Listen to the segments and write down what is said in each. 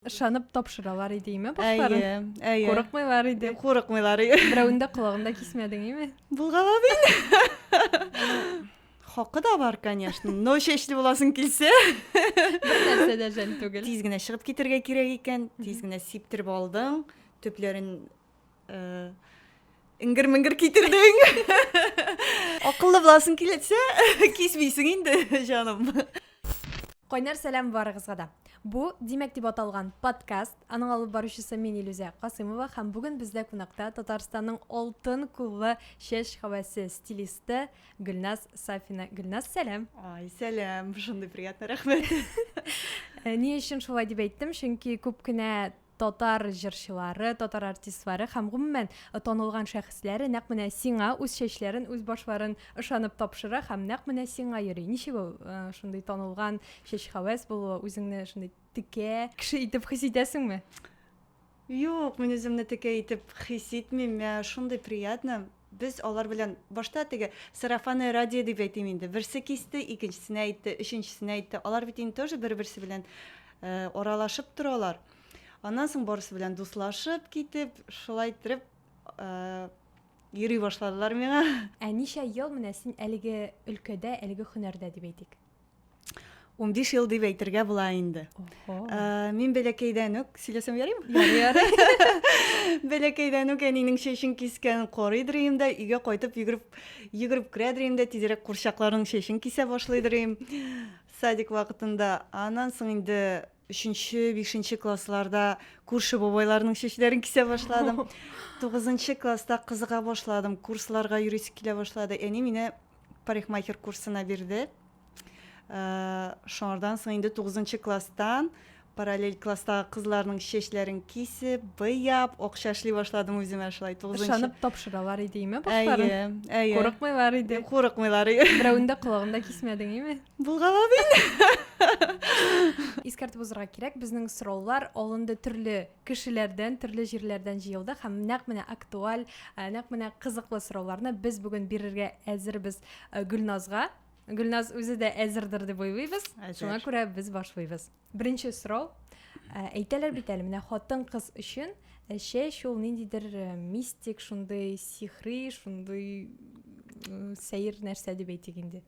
Ышанып тапшыралар иде име башларын? Әйе, әйе. Курыкмыйлар иде. Курыкмыйлар иде. Берәүен дә колагын да кисмәдең име? Булгала бит. Хакы да бар, конечно. Но чәчле буласың килсә. Бер нәрсә дә жәл түгел. Тиз генә чыгып китергә кирәк икән. Тиз генә сиптереп алдың. Төпләрен Э, ингер меңгер китердең акыллы буласың киләтсә кисмисең инде җаным кайнар сәлам барыгызга да бу димәк дип аталган подкаст аның алып баручысы мин илүзә касыймова һәм бүген бездә кунакта татарстанның алтын куллы чәч хәвәсе стилисты гөлназ сафина гөлназ сәлам ай сәлам шундый приятный рәхмәт э, ни өчен шулай дип әйттем чөнки күп кенә татар җырчылары, татар артистлары һәм гомумән танылган шәхесләре нәкъ менә сиңа үз чәчләрен, үз башларын ышанып тапшыра һәм нәкъ менә сиңа йөри. Ничек ул шундый танылган чәч хәвәс булуы, үзеңне шундый текә кеше итеп хис итәсеңме? Юк, мин үземне текә итеп хис итмим, миңа шундый приятно. Без алар белән башта теге сарафанное радио дип әйтим инде, берсе кисте, икенчесенә әйтте, өченчесенә әйтте. Алар бит инде тоже бер-берсе белән э, аралашып торалар. Аннан соң барысы белән дуслашып китеп, шулай иттереп э, йөри башладылар миңа. Ә ничә ел менә син әлеге өлкәдә, әлеге һөнәрдә дип әйтик? Унбиш ел дип әйтергә була инде. Э, мин бәләкәйдән үк сөйләсәм ярыймы? Ярый, ярый. Бәләкәйдән үк әнинең чәчен кискән корый дөрим дә, өйгә кайтып йөгереп йөгереп керә дөрим дә, тизрәк курчакларның чәчен кисә башлый дөрим. Садик вакытында. Аннан соң инде Өченче, бишенче классларда күрше бабайларның чәчләрен кисә башладым. Тугызынчы класста кызыга башладым, курсларга йөрисе килә башлады. Әни мине парикмахер курсына бирде. Ә, Шуңардан соң инде тугызынчы класстан параллель класстагы кызларның чәчләрен кисеп, быяп, акча эшли башладым үземә шулай тугызынчы. Ышанып тапшыралар идеме башларын? Әйе, әйе. Курыкмыйлар иде. Курыкмыйлар. Берәүнең дә колагында кисмәдең, име? Булгала мин. Искәртеп узырга кирәк, безнең сораулар алынды төрле кешеләрдән, төрле җирләрдән җыелды һәм нәкъ менә актуаль, э, нәкъ менә кызыклы сорауларны без бүген бирергә әзербез э, Гөлназга. Гөлназ үзе дә әзердер дип уйлыйбыз. Шуңа күрә без башлыйбыз. Беренче сорау. Э, әйтәләр бит әле, менә хатын-кыз өчен чәч ул ниндидер мистик, шундый сихри, шундый сәер нәрсә дип әйтик инде.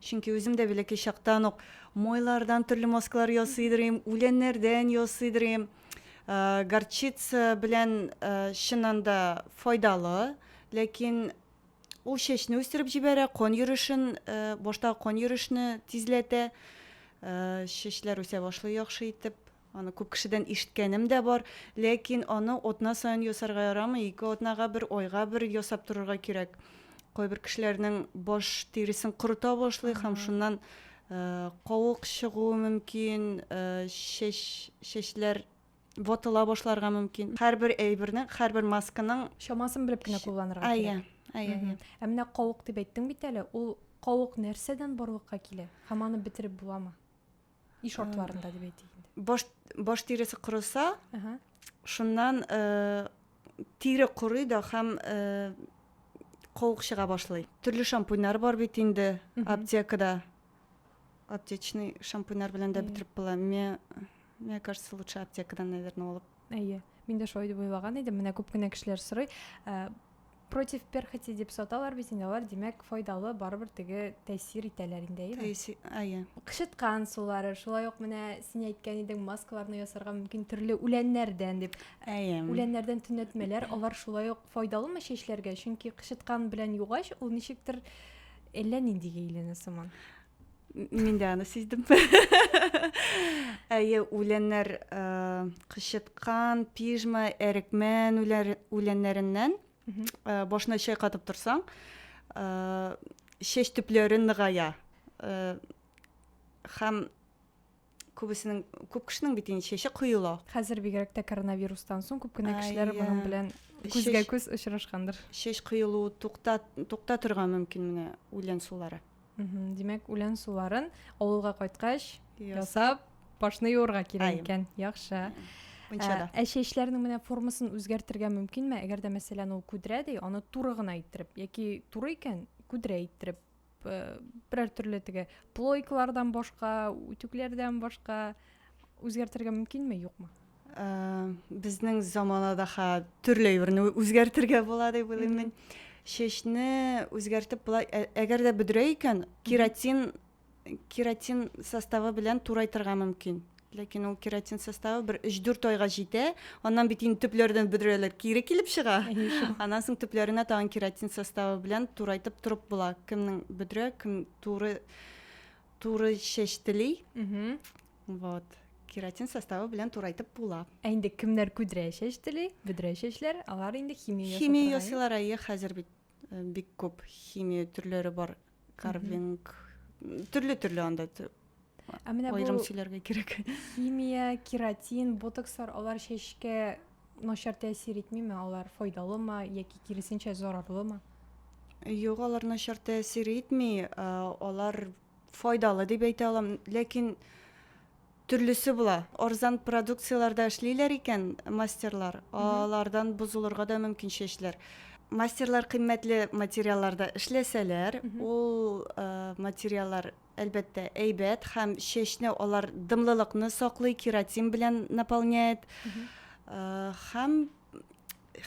Чөнки үзем дә бәләкәй чактан ук майлардан төрле маскалар ясый идем, үләннәрдән ясый идем. Горчица белән чыннан да файдалы, ләкин ул чәчне үстереп җибәрә, кан йөришен, башта кан йөришне тизләтә. Чәчләр үсә башлый яхшы итеп. Аны күп кешедән ишеткәнем дә бар, ләкин аны атна саен ясарга ярамый, ике атнага бер, айга бер ясап торырга кирәк. Кайбер кешеләрнең баш тиресен корыта башлый һәм шуннан э, кавык чыгуы мөмкин, э, чәч, чәчләр ватыла башларга мөмкин. Һәрбер әйбернең, һәрбер масканың Чамасын белеп кенә кулланырга Әйе, кирәк. әйе, Мгм. әйе. Ә менә кавык дип әйттең бит әле, ул кавык нәрсәдән барлыкка килә? Һәм аны бетереп буламы? и шартларында дип әйтик инде баш баш тиресе корыса шуннан э, тире корый да һәм э, куык чыга башлый төрле шампуньнар бар бит инде аптекада аптечный шампуньнар белән дә бетереп була мне кажется лучше аптекадан наверное алып Әйе, мин дә шулай дип уйлаган идем. Менә күп кенә кешеләр сорый, э, против перхоти дип саталар бит инде алар, димәк, файдалы барыбер теге тәэсир итәләр инде, әйеме? Тәэсир, әйе. Кычыткан сулары, шулай ук менә син әйткән идең, маскаларны ясарга мөмкин төрле үләннәрдән дип. Әйе. Үләннәрдән төнәтмәләр, алар шулай ук файдалымы чәчләргә? Чөнки кычыткан белән югач, ул ничектер әллә нинди гейләнә сыман. Мин дә аны сиздем. Әйе, үләннәр кычыткан, пижма, әрекмән үләннәреннән башына чәй катып торсаң, чәч төпләре ныгая. Хәм күбесенең күп кешенең бит инде чәче коела хәзер бигрәк тә коронавирустан соң күп кенә кешеләр моның белән күзгә күз очрашкандыр чәч коелуы тукта тукта торган мөмкин менә үлән сулары димәк үлән суларын авылга кайткач ясап башны юырга кирәк икән яхшы мунчада ә чәчләрнең менә формасын үзгәртергә мөмкинме әгәр дә мәсәлән ул күдрә ди аны туры гына иттереп яки туры икән күдрә иттереп берәр төрле теге плойкалардан башка үтүкләрдән башка үзгәртергә мөмкинме юкмы ә, безнең заманада ха төрле юрны үзгәртергә була дип уйлыйм мин чәчне үзгәртеп була әгәр дә бөдрә икән кератин кератин составы белән турайтырга мөмкин Ләкин ул кератин составы бер 3-4 айга җитә. Аннан бит инде төпләрдән бөдрәләр кире килеп чыга. Аннан соң төпләренә тагын кератин составы белән турайтып торып була. Кемнең бөдрә, кем туры туры чәч тели. Вот. Кератин составы белән турайтып була. Ә инде кемнәр күдрә чәч тели, бөдрә чәчләр, алар инде химия ясыйлар. Химия ясыйлар, әйе, хәзер бит э, бик күп химия төрләре бар. карвинг төрле төрле анда ә менә аерым сөйләргә кирәк химия кератин ботокслар алар чәчкә начар тәэсир итмиме алар файдалымы яки киресенчә зарарлымы юк алар начар тәэсир итми алар файдалы дип әйтә алам ләкин Төрлесе була. Арзан продукцияләр дә эшлиләр икән мастерлар, алардан бозылырга да мөмкин чәчләр. Мастерлар кыйммәтле материалларда эшләсәләр, ул материаллар, әлбәттә, әйбәт һәм чәчне алар дымлылыкны саклый, кератин белән наполняет. Һәм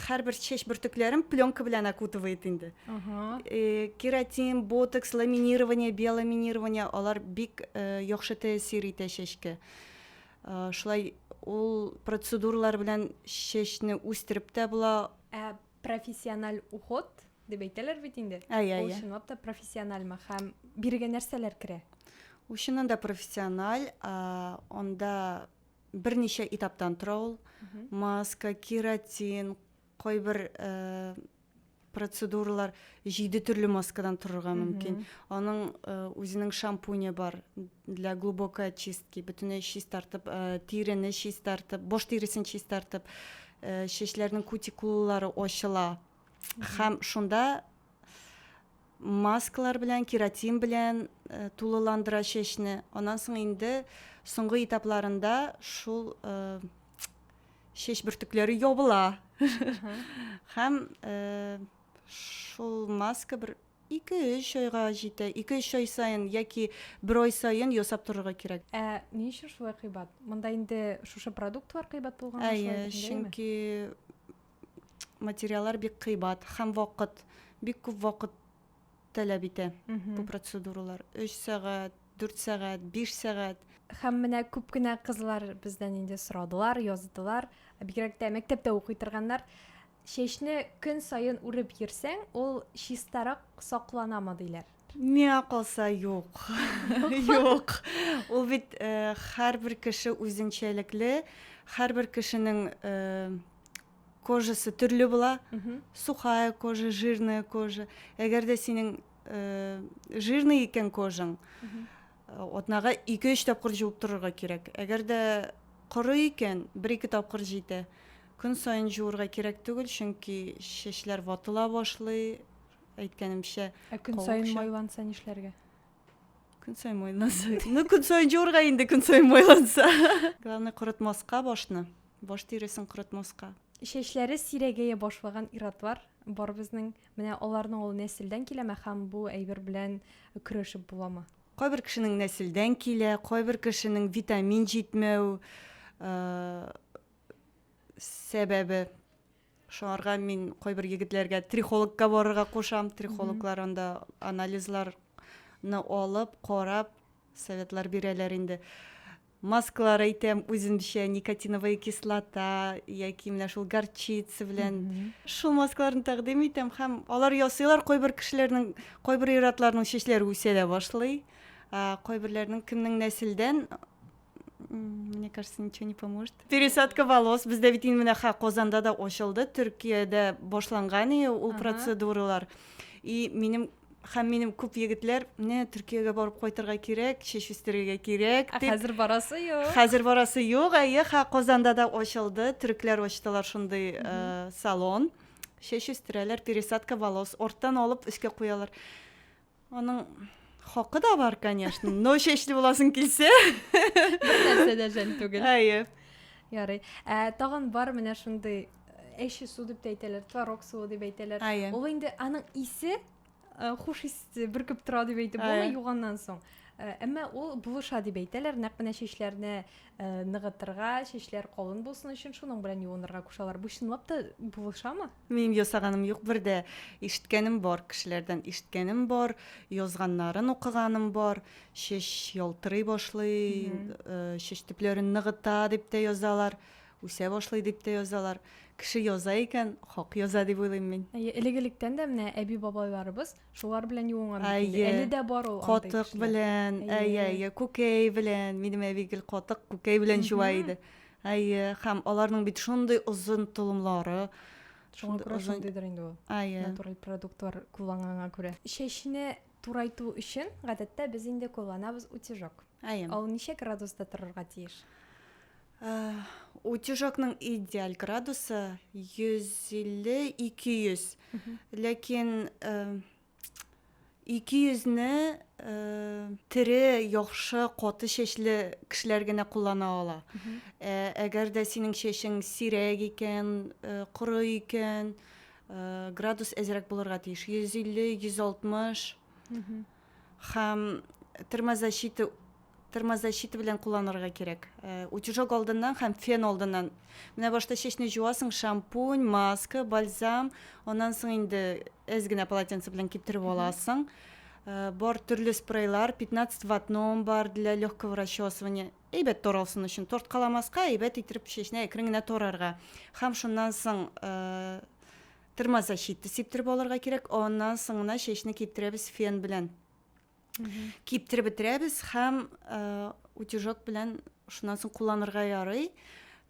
һәрбер чәч бөртекләрен пленка белән окутывает инде ага. э, кератин ботокс ламинирование биоламинирование алар бик э, яхшы тәэсир итә чәчкә э, шулай ул процедуралар белән чәчне үстереп тә була ә профессиональ уход дип әйтәләр бит инде ул чынлап та профессиональмы һәм бирегә нәрсәләр керә ул чыннан да профессиональ ә, анда берничә этаптан тора ул. Маска, кератин, кайбер э, процедуралар җиде төрле маскадан торырга мөмкин. Аның э, үзенең шампуне бар для глубокой очистки, бөтенләй чистартып, э, тирене чистартып, баш тиресен чистартып, э, чәчләрнең кутикулалары ачыла. Хәм шунда маскалар белән, кератин белән э, тулыландыра чәчне. Аннан соң инде соңгы этапларында шул э, чәч бөртекләре ябыла. Хәм э, шул маска бер 2-3 айга җитә. 2-3 ай саен яки бер ай саен ясап торырга кирәк. Ә ни өчен шулай кыйбат? Монда инде шушы продуктлар кыйбат булган Әйе, чөнки материаллар бик кыйбат һәм вакыт бик күп вакыт таләп итә бу процедуралар өч сәгать дүрт сәгать биш сәгать һәм менә күп кенә кызлар бездән инде сорадылар яздылар бигрәк тә мәктәптә укый торганнар чәчне көн саен үреп йөрсәң ул чистарак сакланамы диләр Миңа калса юк. Юк. Ул бит э, һәрбер кеше үзенчәлекле, һәрбер кешенең э, кожасы төрле була. Сухая кожа, жирная кожа. Әгәр дә синең э, жирный икән кожаң, атнага 2-3 тапкыр җуып торырга кирәк. Әгәр дә коры икән, 1-2 тапкыр җитә. Көн саен җуырга кирәк түгел, чөнки чәчләр ватыла башлый, әйткәнемчә. Ә көн саен майланса нишләргә? Көн саен майланса. Ну, көн саен җуырга инде көн саен майланса. Главное корытмаска башны. Баш тиресен корытмаска. Чәчләре сирәгәя башлаган иратлар бар безнең. Менә аларның ул нәселдән киләме һәм бу әйбер белән көрәшеп буламы? Кайбер кешенең нәселдән килә, кайбер кешенең витамин җитмәү э, сәбәбе. Шуңарга мин кайбер егетләргә трихологка барырга кушам. Трихологлар анда анализларны алып, карап, советлар бирәләр инде. Маскалар әйтәм, үземчә никотиновая кислота яки менә шул горчица белән шул маскаларны тәкъдим итәм һәм алар ясыйлар. Кайбер кешеләрнең, кайбер ир-атларның чәчләре үсә дә башлый. Кайберләрнең кемнең нәселдән мне кажется, ничего не поможет. Пересадка волос. Бездә бит инде менә ха Казанда да ачылды, Төркиядә башланган и ул процедуралар. И минем һәм минем күп егетләр менә Төркиягә барып кайтырга кирәк, чәч үстерергә кирәк дип. Хәзер барасы юк. Хәзер барасы юк, әйе, ха Казанда да ачылды, төрекләр ачтылар шундый э, салон. Чәч үстерәләр, пересадка волос, орттан алып өскә куялар. Аның хакы да бар, конечно. Но чәчле буласың килсә. Нәрсә дә жәл түгел. Әйе. Ярый. Ә тагын бар менә шундый әче су дип әйтәләр, творог суы дип әйтәләр. Ул инде аның исе хуш ис бөркеп тора дип әйтеп булмый юганнан соң. Әмма ул булыша дип әйтәләр, нәкъ менә чәчләрне ныгытырга, чәчләр калын булсын өчен шуның белән юынырга кушалар. Бу чынлап та булышамы? Минем ясаганым юк бер дә. Ишеткәнем бар, кешеләрдән ишеткәнем бар, язганнарын укыганым бар. Чәч ялтырый башлый, э, чәч төпләрен ныгыта дип тә язалар, үсә башлый дип тә язалар. Кеше яза икән, хак яза дип уйлыйм мин. Әйе, элек-электән дә менә әби-бабайларыбыз шулар белән юынган бит инде. Әйе. Әле дә бар ул андый Катык кешеләр. белән, әйе, Әйе. әйе, күкәй белән. Минем әби гел катык, күкәй белән җуа Мгм. иде. Әйе, һәм аларның бит шундый озын толымлары. Шуңа күрә шундыйдыр инде ул. Әйе. Натураль продуктлар кулланганга күрә. Чәчне турайту өчен гадәттә без инде кулланабыз утюжок. Әйе. Ул ничә градуста торырга тиеш? утюжокның идеаль градусы 150-200. Ләкин Ике йөзне тере, яхшы, каты чәчле кешеләр генә куллана ала. Ә, әгәр дә синең чәчең сирәк икән, коры икән, градус әзрәк булырга тиеш. 150-160 һәм термозащита термозащита белән кулланырга кирәк э, утюжок алдыннан һәм фен алдыннан менә башта чәчне жуасың шампунь маска бальзам аннан соң инде әз генә полотенце белән киптереп аласың э, бар төрле спрейлар 15 ватном бар для легкого расчесывания әйбәт таралсын өчен торткаламаска әйбәт иттереп чәчне әкрен генә тарарга һәм шуннан соң э, термозащита сиптереп алырга кирәк аннан соң гына чәчне киптерәбез фен белән киптереп бетерәбез һәм утюжок белән шуннан соң кулланырга ярый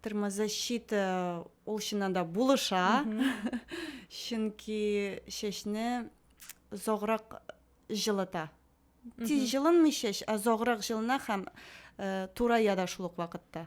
термозащита ул чыннан да булыша чөнки чәчне озаграк җылыта тиз җылынмый чәч озаграк җылына һәм турая да шул ук вакытта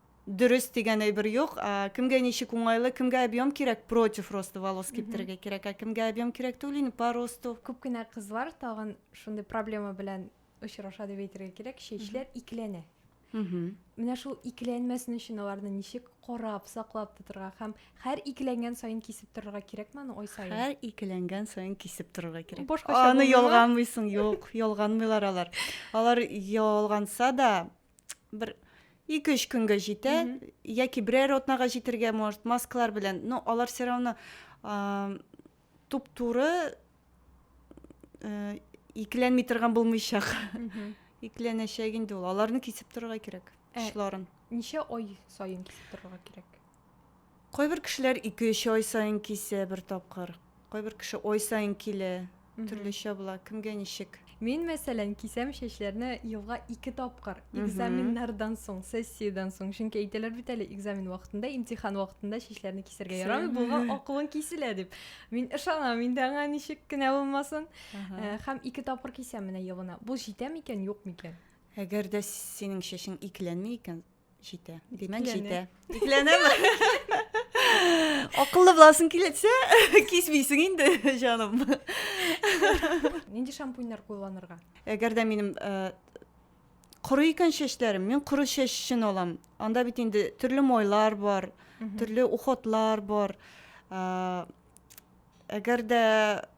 Дөрес дигән әйбер юк. Кемгә ничек уңайлы, кемгә объем кирәк, против роста волос киптерергә кирәк, ә кемгә объем кирәк түгел инде по росту. Күп кенә кызлар тагын шундый проблема белән очраша дип әйтергә кирәк, чәчләр икеләнә. Менә шул икеләнмәсен өчен аларны ничек карап, саклап тотырга һәм һәр икеләнгән саен кисеп торырга кирәкме аны ай саен? Һәр икеләнгән саен кисеп торырга кирәк. Башкача Аны ялганмыйсың, юк, ялганмыйлар алар. Алар ялганса да, бер ике өч көнгә җитә яки берәр атнага җитергә может маскалар белән но алар все равно туп туры э, икеләнми торган булмыйчак икеләнәчәк инде ул аларны кисеп торырга кирәк э, очларын ничә ай саен кисеп торырга кирәк Кайбер кешеләр ике-өч ай саен кисә бер тапкыр. Кайбер кеше ай саен килә. Төрлечә була, кемгә ничек. Мин, мәсәлән, кисәм чәчләрне елга ике тапкыр, экзаменнардан соң, сессиядән соң. Чөнки әйтәләр бит әле, экзамен вакытында, имтихан вакытында чәчләрне кисәргә ярамый, буга акылың киселә дип. Мин ышанам инде аңа, ничек кенә булмасын. Һәм ике тапкыр кисәм менә елына. Бу җитә микән, юк микән? Әгәр дә синең чәчең икеләнми икән, Җитә. Димәк, җитә. Икеләнәме? Акыллы буласың киләсе, кисмисең инде, җаным. Нинди шампуньнар кулланырга? Әгәр дә минем э, коры икән чәчләрем, мин коры чәч өчен алам. Анда бит инде төрле мойлар бар, төрле уходлар бар. Э, әгәр дә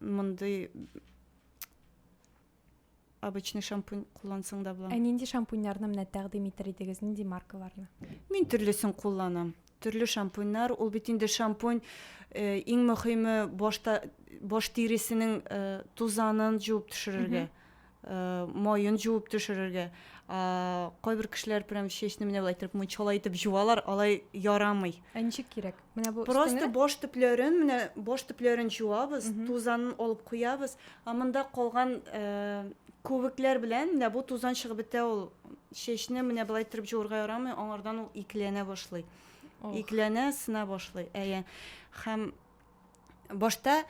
мондый обычный шампунь куллансаң да була. Ә нинди шампуньнарны менә тәкъдим итер идегез, нинди маркаларны? Мин төрлесен кулланам. Төрле шампуньнар, ул бит инде шампунь э, иң мөһиме башта баш тиресенең э, тузанын җуып төшерергә. Э, моен жуып төшерергә ә, кайбер кешеләр прям чәчне менә былай итеп мунчала итеп жуалар алай ярамый ә ничек кирәк менә бу просто баш төпләрен менә баш төпләрен жуабыз тузанын алып куябыз ә монда калган ә, күбекләр белән менә бу тузан чыгып бетә ул чәчне менә былай итеп жуырга ярамый аңардан ул икеләнә башлый икеләнә сына башлый әйе һәм башта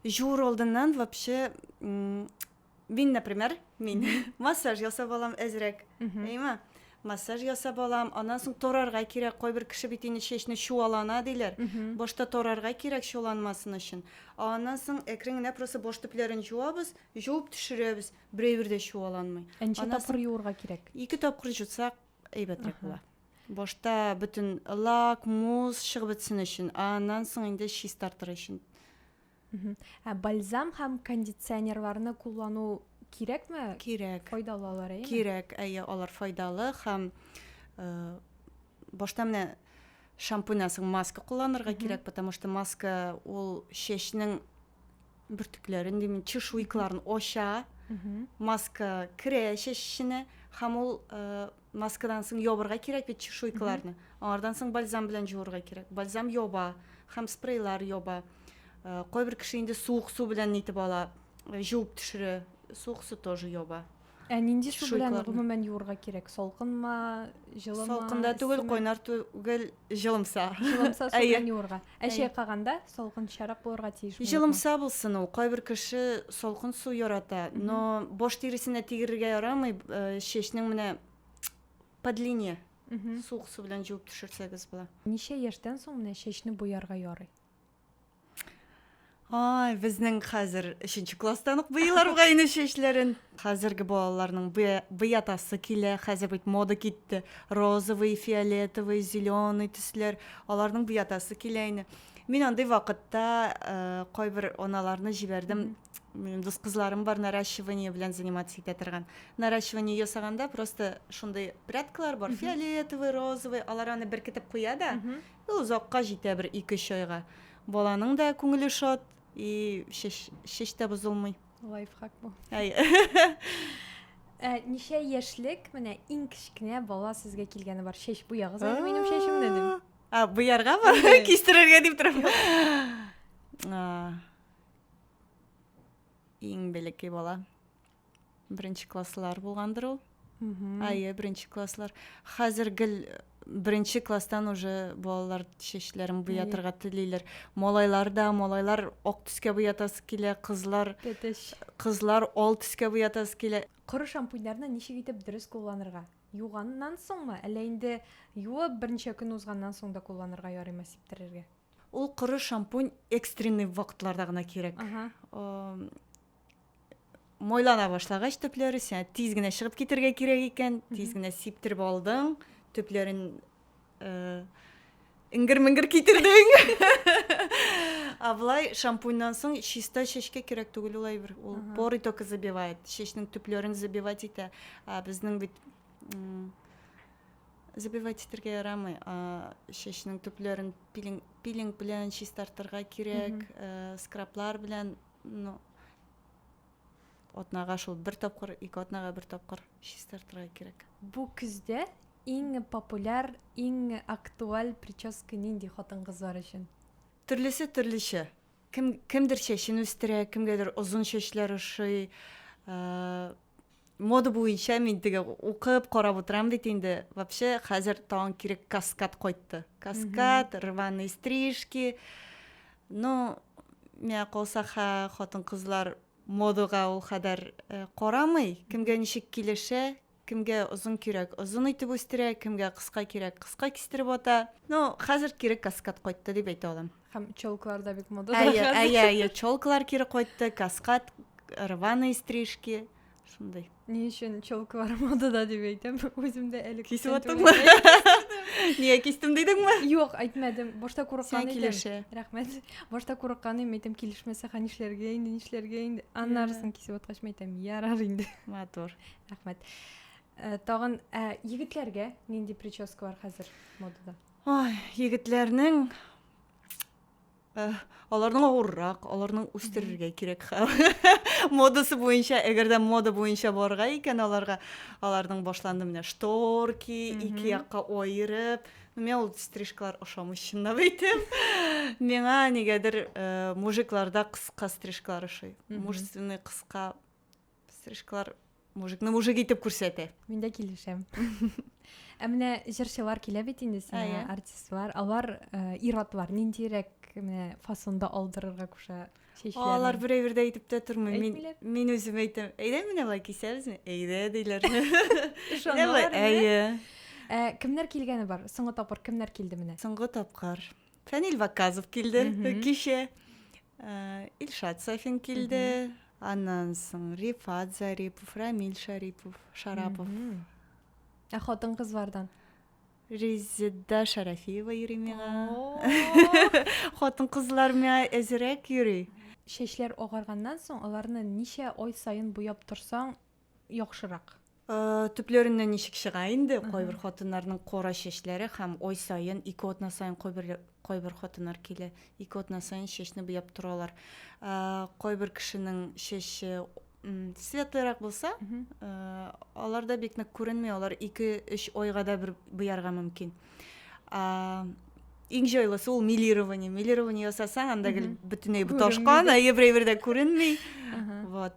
жуур алдыннан вообще Мин, например, мин массаж ясап алам әзрәк, әйме? Массаж ясап алам, аннан соң торарга кирәк. Кайбер кеше бит инде чәчне чуалана диләр. Башта торарга кирәк чуаланмасын өчен. Аннан соң әкрен генә просто баш төпләрен җуабыз, җуып төшерәбез. Берәйбер дә чуаланмый. Ә ничә тапкыр юырга кирәк? Ике тапкыр җутсак, әйбәтрәк була. Башта бөтен лак, мусс чыгып бетсен өчен, аннан соң инде чистартыр өчен. Ә бальзам һәм кондиционерларны куллану кирәкме? Кирәк. Файдалы алар, әйеме? Кирәк, әйе, алар файдалы һәм э, башта менә шампуньнан соң маска кулланырга кирәк, потому что маска ул чәчнең бөртекләрен димме, чешуйкаларын ача. Маска керә чәч эченә һәм ул э, маскадан соң ябырга кирәк бит чешуйкаларны аңардан соң бальзам белән җуырга кирәк бальзам яба һәм спрейлар яба э, кайбер кеше инде суык су белән нитеп ала э, җуып төшерә суык су тоже яба ә нинди су белән гомумән юырга кирәк салкынмы җылымы салкында түгел кайнар түгел җылымса җылымса су белән юырга Ә чайкаганда салкынчарак булырга тиеш. Җылымса булсын ул. Кайбер кеше салкын су ярата, но баш тиресенә тигерергә ярамый. Э, чәчнең менә по длине суык су белән җуып төшерсәгез була. Ничә яшьтән соң менә чәчне буярга ярый? Ай, безнең хәзер өченче класстан ук буяларга инде чәчләрен. Хәзерге балаларның буятасы килә. Хәзер бит мода китте. Розовый, фиолетовый, зеленый төсләр. Аларның буятасы килә инде. Мин андый вакытта э, кайбер аналарны җибәрдем. Минем дус кызларым бар наращивание белән заниматься итә торган. Наращивание ясаганда просто шундый прядкалар бар, фиолетовый, розовый, алар аны беркетеп куя да, Ну, озакка җитә, бер ике-өч айга. Баланың да күңеле шат, и шеш, шеш тә бозылмый. Лайфхак бу. Әй. Ә, ничә яшьлек менә иң кечкенә бала сезгә килгәне бар? Чәч буягыз әле минем чәчемне дип. А, буярга ма? Кистерергә дип торам. Иң бәләкәй бала. Беренче класслар булгандыр ул. Әйе, беренче класслар. Хәзер гел беренче класстан уже балалар чәчләрен буятырга телиләр. Малайлар да, малайлар ак төскә буятасы килә, кызлар Тәтеш. кызлар ал төскә буятасы килә. Коры шампуньнарны ничек итеп дөрес кулланырга? Юганнан соңмы, әллә инде юып берничә көн узганнан соң да кулланырга ярыймы сиптерергә? Ул коры шампунь экстренный вакытларда гына кирәк. Мойлана башлагач төпләре, сиңа тиз генә чыгып китергә кирәк икән, тиз генә сиптереп алдың, төпләрен э, иңгер-меңгер китердең. А былай шампуньнан соң чиста чәчкә кирәк түгел ул әйбер. Ул поры только забивает, чәчнең төпләрен забивать итә. Ә безнең бит Забивать итәргә ярамый. Чәчнең төпләрен пилинг, пилинг белән чистартырга кирәк, э, скраблар белән, ну, атнага шул бер тапкыр, ике атнага бер тапкыр чистартырга кирәк. Бу көздә иң популяр, иң актуаль прическа нинди хатын-кызлар өчен? Төрлесе төрлечә. Кем кемдер чәчен үстерә, кемгәдер озын чәчләр ошый. Э, мода буенча мин теге укып карап утырам бит инде вообще хәзер тагын кире каскад кайтты каскад рваные стрижки ну миңа калса хатын кызлар модага ул кадәр э, карамый кемгә ничек килешә кемгә озын кирәк озын итеп үстерә кемгә кыска кирәк кыска кистереп ата ну хәзер кире каскад кайтты дип әйтә алам Һәм челкалар да бик мода. Әйе, әйе, әйе, челкалар кире кайтты, каскад, рваные стрижки, шундый. Ни өчен челкалар модада дип әйтәм, үзем дә әле кисеп атыңмы? Нигә кистем дидеңме? Юк, әйтмәдем. Башта курыккан идем. Рәхмәт. Башта курыккан идем, әйтәм, килешмәсә, ха нишләргә инде, нишләргә инде. Аннарысын кисеп аткач, әйтәм, ярар инде. Матур. Рәхмәт. Э, тагын э, егетләргә нинди прическалар хәзер модада? Ай, егетләрнең э, аларның авыррак, аларның үстерергә кирәк хәл. Модасы буенча, әгәр дә мода буенча барырга икән аларга, аларның башланды менә шторки, ике якка аерып, Миңа ул стрижкалар ошамый чынлап әйтәм. Миңа нигәдер э, мужикларда кыска стрижкалар ошый. Мужественный кыска стрижкалар мужикны мужик итеп күрсәтә мин дә килешәм ә менә җырчылар килә бит инде сиңа артистлар алар э, ир-атлар ниндирәк менә фасонда алдырырга куша чәчләрен алар берәй бердә әйтеп тә тормый мин мин үзем әйтәм әйдә менә былай кисәбезме әйдә диләр ышаналар әйе ә, кемнәр килгәне бар соңгы тапкыр кемнәр килде менә соңгы тапкыр фәнил ваказов килде кичә Илшат Сафин килде, аннан соң Рифат Зарипов, Рамил Шарипов, Шарапов. Ә хатын-кызлардан? Резеда Шарафиева йөри миңа. Хатын-кызлар миңа әзерәк йөри. Чәчләр агарганнан соң аларны ничә ай саен буяп торсаң, яхшырак. Төпләреннән ничек чыга инде, кайбер хатыннарның кара чәчләре һәм ай саен, ике атна саен кайбер кайбер хатыннар килә, ике атна саен чәчне буяп торалар. Кайбер кешенең чәче светлырак булса, аларда бик нык күренми, алар 2-3 айга да бер буярга мөмкин. Иң җайлысы ул милирование. Милирование ясасаң, анда гел бөтенләй буташкан, ә еврей бердә күренми. Вот.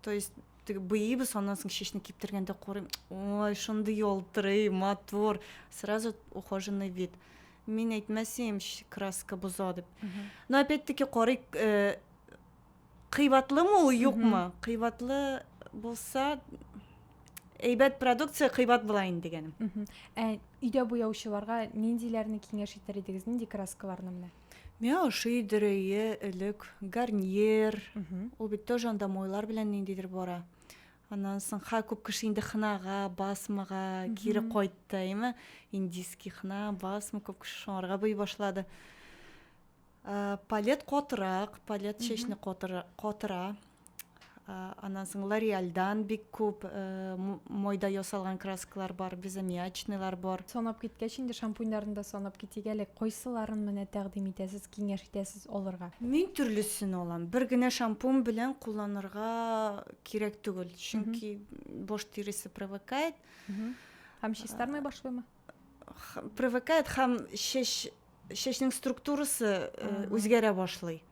то есть теге боебыз аннан соң чәчне киптергәндә карыйм ой шундый ялтырый матур сразу ухоженный вид мин әйтмәсем краска боза дип но опять таки карыйк э, кыйбатлымы ул юкмы кыйбатлы булса әйбәт продукция кыйбат була инде дигәнем ә өйдә буяучыларга ниндиләрне киңәш итәр идегез нинди краскаларны менә Миңа ошый дөрөе элек гарниер. Ул бит тоже анда мойлар белән ниндидер бара. Аннан соң ха күп кеше инде хнага, басмага кире кайтты, әйме? Индийский хна, басма күп кеше шуңарга буй башлады. Ә, палет котырак, палет чәчне котыра, котыра. Аннан соң Лореальдан бик күп мойда ясалган краскалар бар, безаммиачныйлар бар. Санап киткәч инде шампуньнарны да санап китик әле. Кайсыларын менә тәкъдим итәсез, киңәш итәсез алырга? Мин төрлесен алам. Бер генә шампунь белән кулланырга кирәк түгел. Чөнки баш тиресе привыкает. Һәм чистармый башлыймы? Привыкает һәм чәч чәчнең структурасы үзгәрә башлый.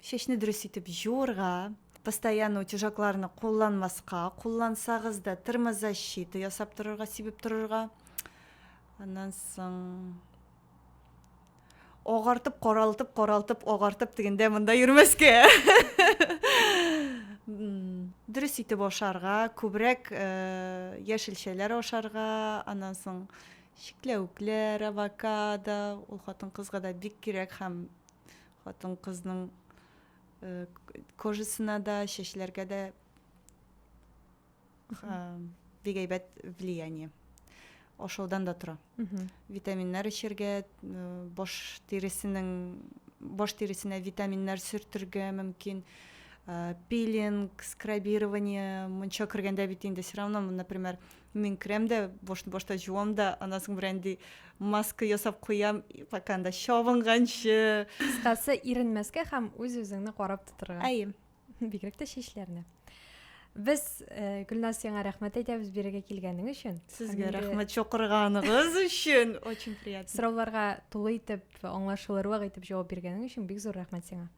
Чәчне дөрес итеп җуырга, постоянно утяжакларны кулланмаска, куллансагыз да термозащита ясап торырга, сибеп торырга. Аннан соң агартып, каралтып, каралтып, агартып дигәндә монда йөрмәскә. дөрес итеп ашарга, күбрәк э, яшелчәләр ашарга, аннан соң чикләвекләр, авокадо, ул хатын-кызга да бик кирәк һәм Хатын-кызның кожасына да, чәчләргә дә бик әйбәт влияние. Ашаудан да тора. Витаминнар эчәргә, баш тиресенең баш тиресенә витаминнар сөртергә мөмкин. Пилинг, скрабирование, мунча кергәндә бит инде все равно, например, Мин керәм дә, бош, бошта җуам да, аннан соң берән ди, маска ясап куям, пока анда чабынганчы. Кыскасы, иренмәскә һәм үз-үзеңне карап тотырга. Әйе. Бигрәк тә чәчләрне. Без э, Гөлназ сиңа рәхмәт әйтәбез бирегә килгәнең өчен. Сезгә рәхмәт чакырганыгыз өчен. Очень приятно. Сорауларга тулы итеп, аңлашылырлык итеп җавап биргәнең өчен бик зур рәхмәт сиңа.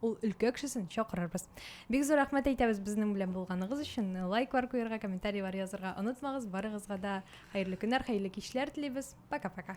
ул өлкә кешесен чакырырбыз бик зур рәхмәт әйтәбез безнең белән булганыгыз өчен лайклар куярга комментарийлар язырга онытмагыз барыгызга да хәерле көннәр хәерле кичләр телибез пока пока